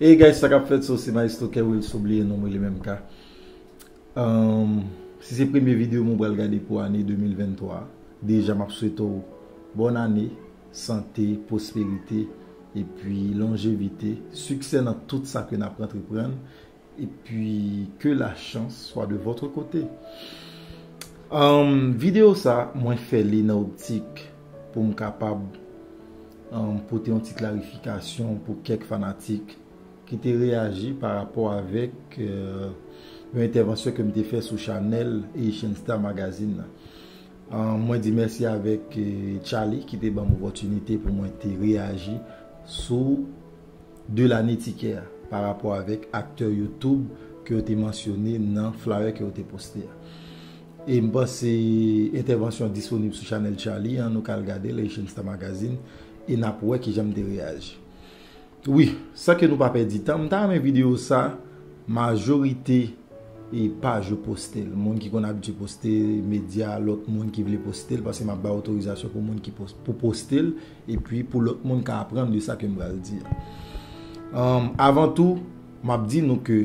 Hey guys sakap fèt so se maestro kerwil so bliye nonm rele menm ka humm si se premye video m ou pral gade pou ane 2023 deja map swete w bòn ane sante pwosperite epi lonjevite siksè nan tout sa ke nap antreprann Et puis que la chance soit de votre côté. Um, video sa mwen fè li nan optik pou m kapab um, pote yon ti klarifikasyon pou kèk fanatik ki te reyaji pa rapò avèk euh, yon entèvansyon ke m te fè sou chanèl Haitian Star Magazine nan. Um, mwen di mèsi avèk euh, Charly ki te ban m opòtinite pou mwen te reyaji sou 2 lane tikè a pa rapò avèk aktè youtube ke yo te mansyone nan flyer ke yo te poste a. E m panse entèvansyon an disponib sou chanèl Charly an, nou ka al gade l Haitian Star Magazine e n ap wè kijan m te reyaji. Wi, san ke nou pa pèdi tan, m ta renmen videyo sa majorite e paj yo poste l, moun ki konn abitye poste, medya, lòt moun ki vle poste l, paske m ap bay otorizasyon pou moun ki pou poste l. Epi pou lòt moun ka aprann de sa ke m pral di a. Avan tou, m ap di nou ke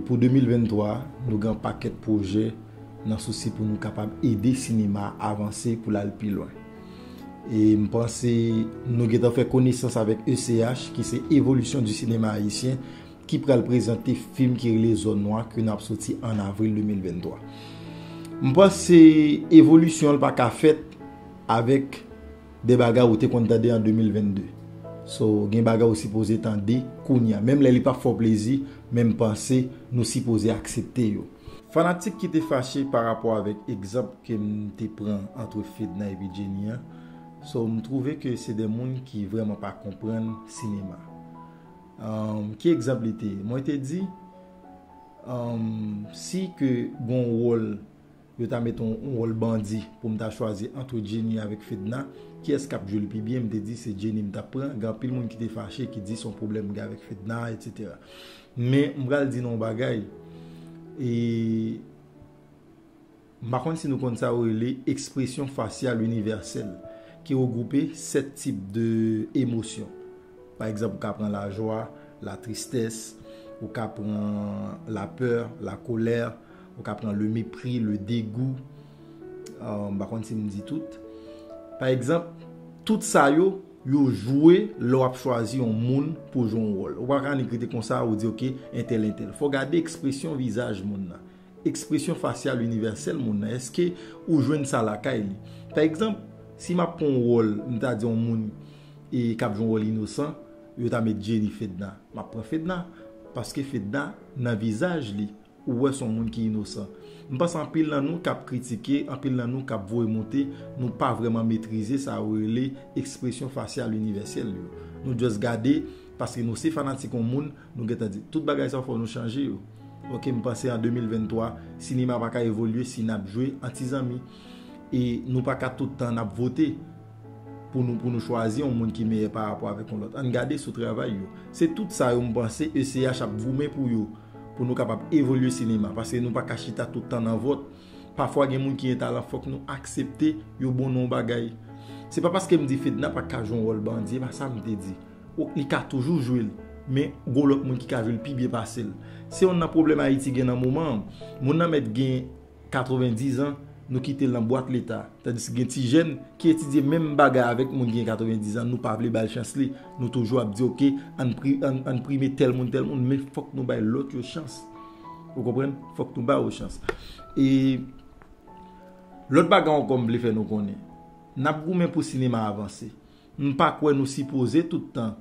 pou 2023 a, nou gen yon pakèt pwojè nan sousi pou nou kapab ede sinema a avanse pou l al pi lwen. E m panse nou gen tan fè konesans avèk ECH ki se Evolution du Cinéma Haïtien ki pral prezante fim ki rele Zòn Nwa ke n ap soti an avril 2023. M panse evolisyon l pa ka fèt. Avek de bagay ou te konn tande an 2022. So gen bagay ou sipoze tande kounya. Menm lè li pap fè w plezi, men m panse nou sipoze aksepte yo. Fanatik ki te fache pa rapò avek egzanp ke m te pran antre Fedna epi Jenny an. So m twouve ke se de moun ki vreman pa konprann sinema. Umm ki egzanp li te? Mwen te di umm si ke gon wol. Yo ta met on wòl bandi pou m ta chwazi antre Jenny avèk Fedna, kiyès k ap jwe l pi byen, m te di se Jenny m t ap pran, gen anpil moun ki te fache ki di s on pwoblèm m gen avèk Fedna a etc. Men m pral di nou on bagay e m pa konn si nou konn sa yo rele ekspresyon fasyal inivèsèl ki regwoupe 7 tip de emosyon pa egzanp ou ka pran lajwa, latristès, ou ka pran lapè, lakolè. Ou ka pran le mepri, le degou, m pa konn si m di tout. Pa egzanp, tout sa yo, yo jwe lè w ap chwazi yon moun pou w jwe yon wòl. Ou pa ka annik rete konsa ou di oke entèl entèl. Fò w gade ekspresyon vizaj moun nan. Ekspresyon fasyal inivèsèl moun nan. Eske ou jwenn sa lakay li? Pa egzanp, si m ap pran yon wòl, m ta di yon moun e k ap jwe yon wòl inosan, yo ta met Jenny Fedna. M ap pran Fedna. Paske Fedna nan vizaj li. Ou wè son moun ki inosan. M panse anpil nan nou kap kritike, anpil nan nou kap voye monte, nou pa vrèman metrize sa yo rele ekspresyon fasyal inivèsèl yo. Nou just gade, paske nou se fanatik yon moun, nou gentan di, tout bagay sa yo fò nou chanje yo. Ok, m panse an 2023, sinema pa ka evolye si nap jwe an ti zanmi. E nou pa ka tout tan nap vote pou nou pou nou chwazi yon moun ki meyè pa rapò avèk yon lòt. Ann gade sou travay yo. Se tout sa yo m panse ECH ap goumen pou yo. pou nou kapab evolye sinema paske nou pa ka chita tout tan nan vòt pafwa gen moun ki gen talan fòk nou aksepte yo bon nan yon bagay se pa paske m di Fedna pa ka jwe yon wòl bandi e pa sa m te di li ka toujou jwe l men gon lòt moun ki ka jwe l pi byen pase l se yonn nan pwoblèm Ayiti gen nan moman an moun nan mèt gen 90 ans nou kite l nan bwat leta tandiske gen ti jèn ki etidye menm bagay avèk moun ki gen 90 ans nou pa vle bal chans li nou toujou ap di ok ann prime tèl moun tèl moun men fòk nou bay lòt yo chans ou konprann fòk nou ba yo chans e lòt bagay ankò m vle fè nou konnen nap goumen pou sinema avanse m pa kwè nou sipoze tout tan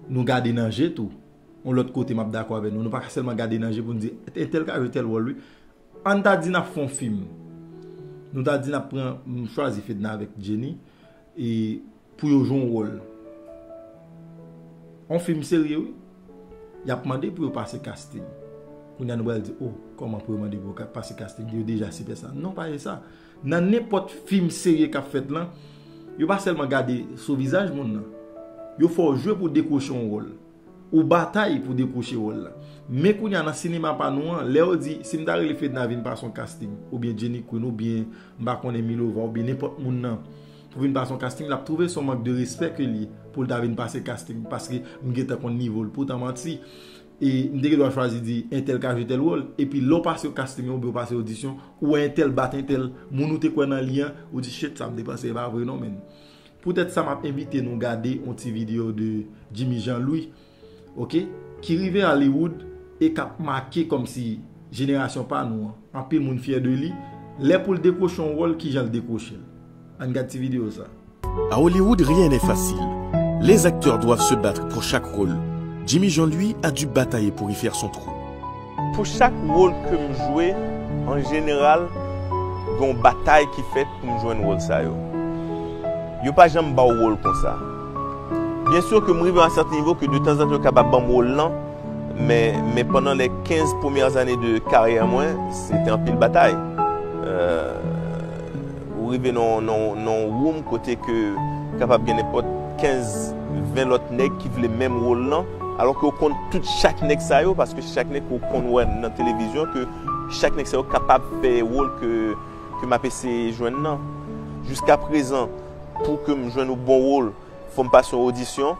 nou gade nan je tou yon lòt kote map dakò avè nou nou pa ka sèlman gade nan je pou n di entèl ka jwe tèl wòl wi Ann ta di nap fè yon fim. Nou ta di nap pran, nou chwazi Fedna avèk Jenny e pou yo jwe yon wòl. Yon fim serye wi. Yap mande pou yo pase casting. Kounya nou pral di, oh, kòman pou yo mande pou yo pase casting? Yo deja sipè sa. Non pa e sa. Nan nenpòt fim serye kap fèt lan, yo pa sèlman gade sou vizaj moun nan. Yo fè w jwe pou w dekwoche yon wòl. Ou batay pou dekwoche wòl la. Men kounya nan sinema pa nou an, lè yo di, si m ta rele Fedna vin pase yon kasting, oubyen Jenny Queen, oubyen, m pa konnen Milova, oubyen nenpòt moun nan, pou vin pase yon kasting, l ap twouve s on mank de respè ke l ye, pou l ta vin pase kasting, paske m gentan konn nivo l. Poutan manti, e, m te gen dwa chwazi di, entèl ka jwe tèl wòl, epi lè w pase yon kasting oubyen w pase odisyon, ou wè entèl bat entèl, moun ou te kwè nan li an, ou di, shit, sa m te panse e pa vre non menn. Poutèt sa map envite nou gade yon ti video de Jimmy Jean Louis ok ki rive Hollywood e kap make kòmsi jenerasyon pa nou an, anpil moun fyè de li, lè poul dekwoche yon wòl kijan l dekwoche l. Ann gad ti video sa. A Hollywood rien n'est facile Les acteurs doivent se battre pour chaque rôle Jimmy Jean Louis a du batailler pour y faire son trou. Pou chak wol ke m jwe, an jeneral, gen yon batay ki fèt pou m jwenn wol sa yo. Yo pa janm ba w wol konsa. Byen sur ke m rive a un certain niveau ke de tan zan tan yo kapab ban m wol lan, men, men pandan les 15 premières années de carrière mwen, se te anpil batay. Euh. Ou rive nan yon room kote ke kapab gen nenpòt 15, 20 lòt nèg ki vle menm wol lan, alò ke ou konn tout chak nèg sa yo, paske se chak nèg ke ou konn wè nan televizyon ke chak nèg sa yo kapab fè wol ke m ap eseye jwenn nan. Jiska prezan, pou ke m jwenn yon bon wol, fò m pase yon odisyon.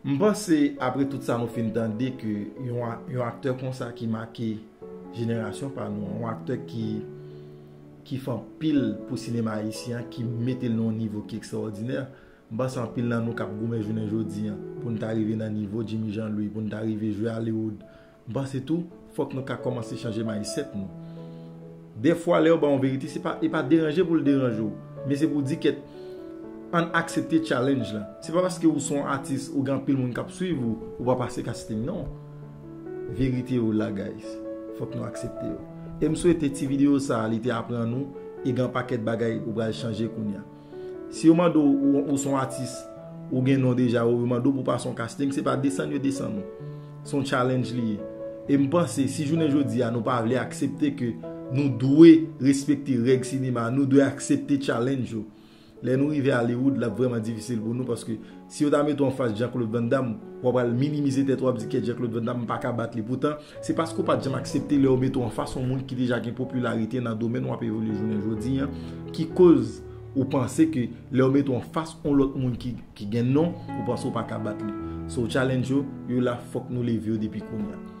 M panse apre tout sa nou fin tande ke yon aktè konsa ki make jenerasyon pa nou an, yon aktè ki fè anpil pou sinema ayisyen an, ki mete l nan yon nivo ki ekstraòdinè, m panse anpil nan nou k ap goumen jounen jodi an pou n ta rive nan nivo Djimi Janlouy, pou n ta rive jwe Hollywood, M panse tou fòk nou ka kòmanse chanje mindset nou. Dèfwa lè yo ba w yon verite se pa e pa deranje pou l deranje w men se pou w di kèt ann aksepte challenge la. Se pa paske ou se yon atis ou gen anpil moun k ap swiv ou, ou pa pase casting non. Verite yo la guys. Fòk nou aksepte yo. E m swete ti videyo sa li te aprann ou e gen yon pakèt bagay ou pral chanje kounya. Si yo mande w ou son atis ou gen non deja ou yo mande w pou pa son casting se pa desann yo desann ou. Son challenge li ye. E m panse si jounen jodi a nou pa vle aksepte ke nou dwe respekte règ sinema nou dwe aksepte challenge yo. Lè nou rive Hollywood l ap vrèman difisil pou nou paske Si yo ta mete w anfas Jean Claude Van Damme, w ap pral minimize tèt ou, w ap di kèt Jean Claude Van Damme m pa ka bat li. Poutan, se paske w pa t janm aksepte lè yo mete w anfas yon moun ki deja gen popilarite nan domèn w ap evolye jounen jodi an ki koz ou panse ke lè yo mete w anfas yon lòt moun ki gen non, ou panse w pa ka bat li. So challenge yo, yo la fòk nou leve yo depi kounya.